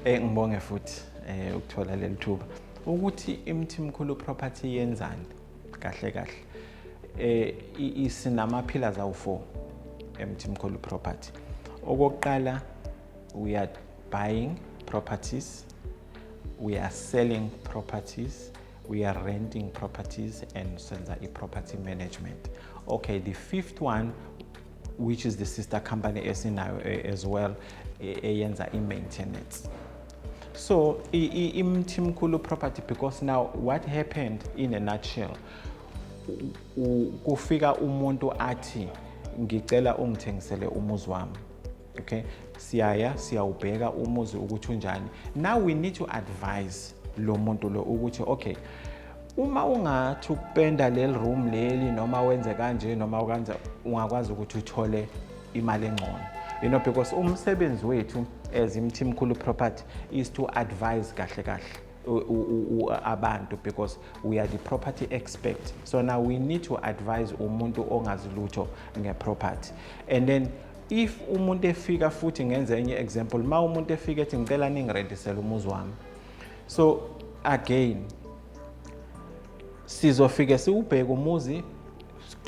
Eh ngibonge futhi eh ukuthola leli thuba ukuthi imthimkhulu property yenzani kahle kahle eh isinama pillars awu4 emthimkhulu property okokuqala we are buying properties we are selling properties we are renting properties and senza i-property management okay the fifth one which is the sister company esinayo eh, as well eh, eyenza i-maintenance so imthimkhulu property because now what happened in a nutshell kufika umuntu athi ngicela ungithengisele umuzi wami okay siyaya siyawubheka umuzi ukuthi unjani now we need to advise lo muntu lo ukuthi okay uma ungathi ukupenda leli room leli noma wenze kanje noma ukwenza ungakwazi ukuthi uthole imali engcono you know because umsebenzi wethu as imthimkhulu property is to advise kahle kahle abantu because we are the property expert so now we need to advise umuntu ongazi lutho ngeproperty and then if umuntu efika futhi ngenze enye example ma umuntu efika ethi ngicela ningirentisele umuzi wami so again sizofike siwubheke umuzi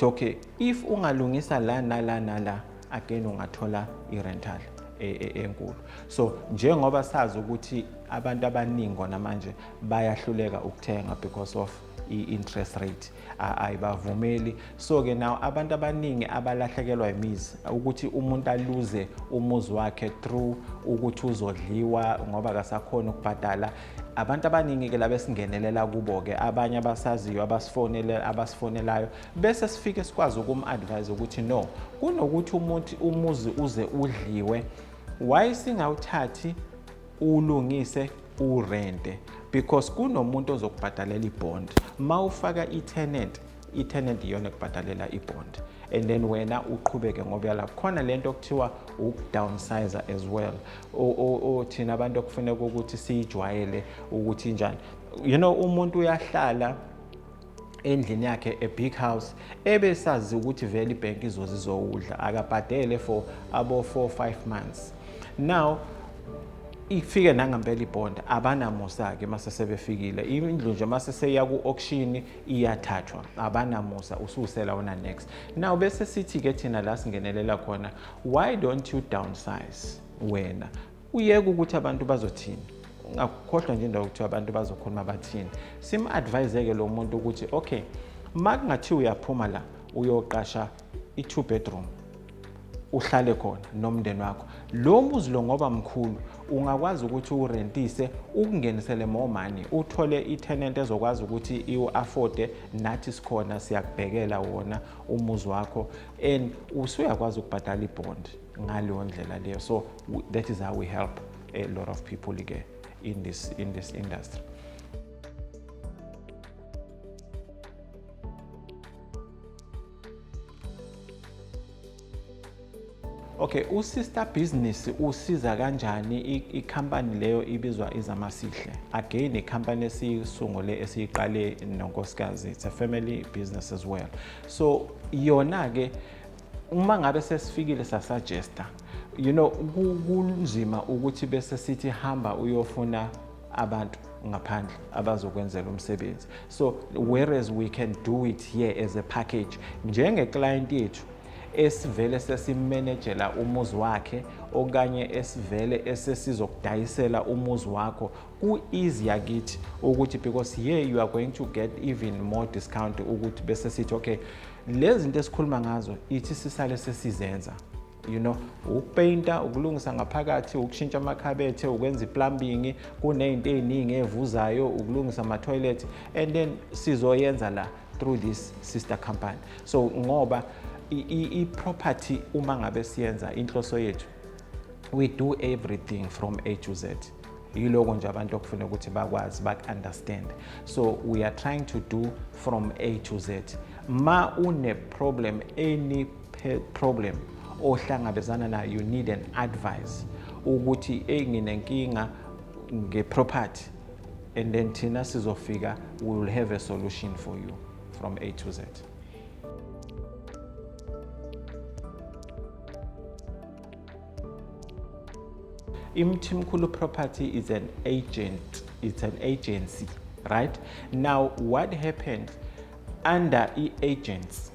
okay if ungalungisa la nala nala again ungathola i-rental e, e, enkulu so njengoba sazi ukuthi abantu abaningi kona manje bayahluleka ukuthenga because of i-interest rate ayibavumeli so-ke nawo abantu abaningi abalahlekelwa imizi ukuthi umuntu aluze umuzi wakhe through ukuthi uzodliwa ngoba kasakhona ukubhadala abantu abaningi-ke laba esingenelela kubo-ke abanye abasaziyo abasifonelayo bese sifike sikwazi ukum-advise ukuthi no kunokuthi umuthi umuzi uze udliwe why singawuthathi ulungise urente because kunomuntu ozokubhadalela ibond ma ufaka i-tenant i-tenant iyona ekubhadalela ibond and then wena uqhubeke ngoba yala khona le nto okuthiwa ukudownsizer as well thina abantu okufuneka ukuthi siyijwayele ukuthi njani you know umuntu uyahlala endlini yakhe a big house ebesazi ukuthi vele ibhenki izoze izowudla akabhadele for abo 4 5 months now ifike nangempela ibhonda abanamusa-ke mase sebefikile indlu nje mase seya ku-auction iyathathwa abanamusa ususela wona next now bese sithi-ke thina la singenelela khona why don't you downsize wena uyeke ukuthi abantu bazothini ungakhohlwa nje indawo ukuthi abantu bazokhuluma bathini sim-advise-ke lo muntu ukuthi okay uma kungathiwa uyaphuma la uyoqasha i-two bedroom uhlale khona nomndeni wakho lo muzi lo ngoba mkhulu ungakwazi ukuthi urentise ukungenisele more money uthole i-tenant ezokwazi ukuthi iwu-afforde nathi sikhona siyakubhekela wona umuzi wakho and usuyakwazi ukubhadala ibhondi ngaleyo ndlela leyo so that is how we help a lot of people ke in this, in this industry Okay, uSister Business usiza kanjani i-company leyo ibizwa Izamasihle? Again, i-company esiyisungule esiyiqale nonkosikazi. It's a family business as well. So yona ke uma ngabe sesifikile sasuggesta you know kunzima ukuthi bese sithi hamba uyofuna abantu ngaphandle abazokwenzela umsebenzi so whereas we can do it here as a package njengeclient yethu esivele sesimenejela umuzi wakhe okanye esivele esesizokudayisela umuzi wakho ku easy yakithi ukuthi because here you are going to get even more discount ukuthi bese sithi okay lezi zinto esikhuluma ngazo ithi sisale sesizenza you know ukupainta ukulungisa ngaphakathi ukushintsha amakhabethe ukwenza iplumbing kunezinto eziningi evuzayo ukulungisa ama toilet and then sizoyenza la through this sister company so ngoba i property uma ngabe siyenza inhloso yethu we do everything from A to Z yiloko nje abantu okufuna ukuthi bakwazi baku-understand so we are trying to do from a to z ma une-problem any problem ohlangabezana nayo you need an advice ukuthi eyi nginenkinga nge-property and then thina sizofika we will have a solution for you from a to z Imthimkhulu property is an agent, it's an agency, right? Now what happened under i-agents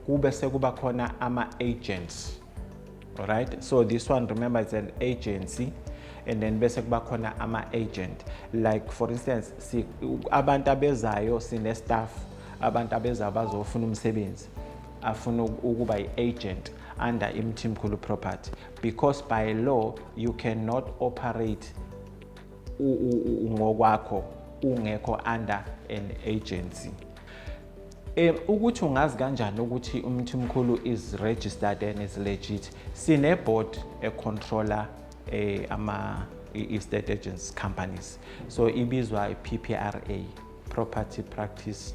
kube sekuba khona ama-agents right so this one remember it's an agency and then bese kuba khona ama-agent like for instance si, abantu abezayo sine-staff abantu abezayo bazofuna umsebenzi afuna ukuba i-agent under imthimkhulu property because by law you cannot operate ngokwakho ungekho under an agency um ukuthi ungazi kanjani ukuthi umthimkhulu is registered and is legit sineboard econtroller um eh, ama i-state agents companies so ibizwa i-ppra property practice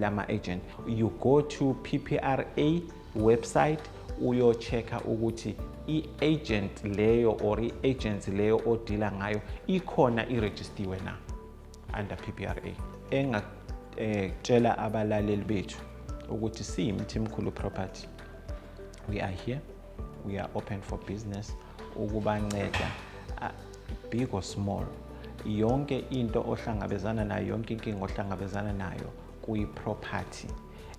lama agent you go to PPRA website uyo checker ukuthi i-agent leyo or i-agency leyo odila ngayo ikhona irejistiwe na under PPRA engatshela eh, abalaleli bethu ukuthi siyimthimkhulu property we are here we are open for business ukubanceda uh, big or small yonke into ohlangabezana nayo yonke inkinga ohlangabezana nayo kuyi-property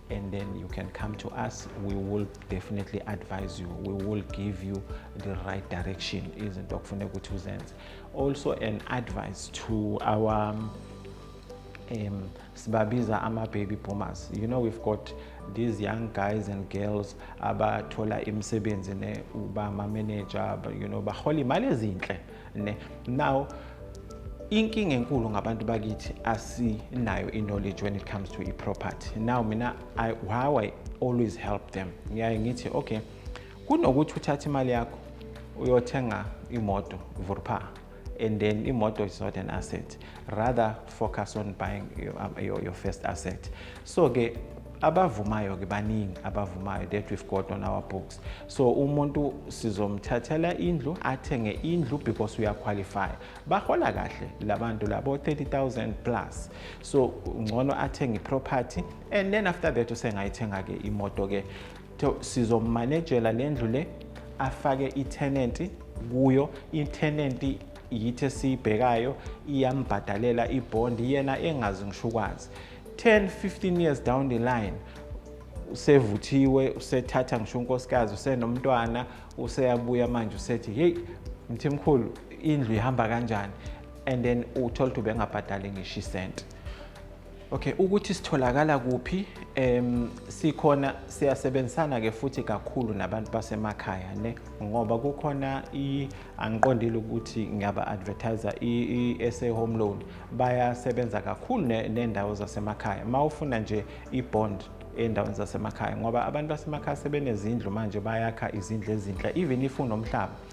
and then you can come to us we will definitely advise you we will give you the right direction izinto okufuneka ukuthi uzenze also an advice to our um, sibabiza ama-baby boomers you know we've got these young guys and girls abathola imisebenzi ne uba ma-manager you know bahola imali ezinhle ne now inkinga enkulu ngabantu bakithi asinayo i-knowledge when it comes to i-property now mina I, how i always help them ngiyaye ngithi okay kunokuthi uthathe imali yakho uyothenga imoto vurpha and then imoto is not an asset rather focus on buying your, um, your, your first asset so ke abavumayo ke baningi abavumayo that we've got on our books so umuntu sizomthathela indlu athenge indlu because uyaqualify bahola kahle labantu labo 30000 plus so ngcono athenge iproperty and then after that usengayithenga ke imoto ke so sizomanejela le ndlu le afake ithenenti kuyo ithenenti yithi esiyibhekayo iyambhadalela ibhondi yena engazi ngisho ukwazi 10 15 years down the line usevuthiwe usethatha ngisho unkosikazi usenomntwana useyabuya manje usethi hey mthimkhulu indlu ihamba kanjani and then uthole ukuthi ubengabhadali ngisho isenti Okay, ukuthi sitholakala kuphi em sikhona siyasebenzisana ke futhi kakhulu nabantu basemakhaya ne ngoba kukhona i angiqondile ukuthi ngiyaba advertiser i SA home loan bayasebenza kakhulu nendawo zasemakhaya mawufuna nje i bond endaweni zasemakhaya ngoba abantu basemakhaya sebenezindlu manje bayakha izindlu ezinhle even if unomhlaba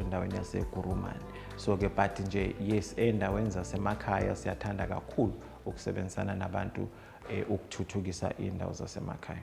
endaweni yaseGurumani so-ke but nje yes ey'ndaweni zasemakhaya siyathanda kakhulu ukusebenzisana nabantu um ukuthuthukisa iy'ndawo zasemakhaya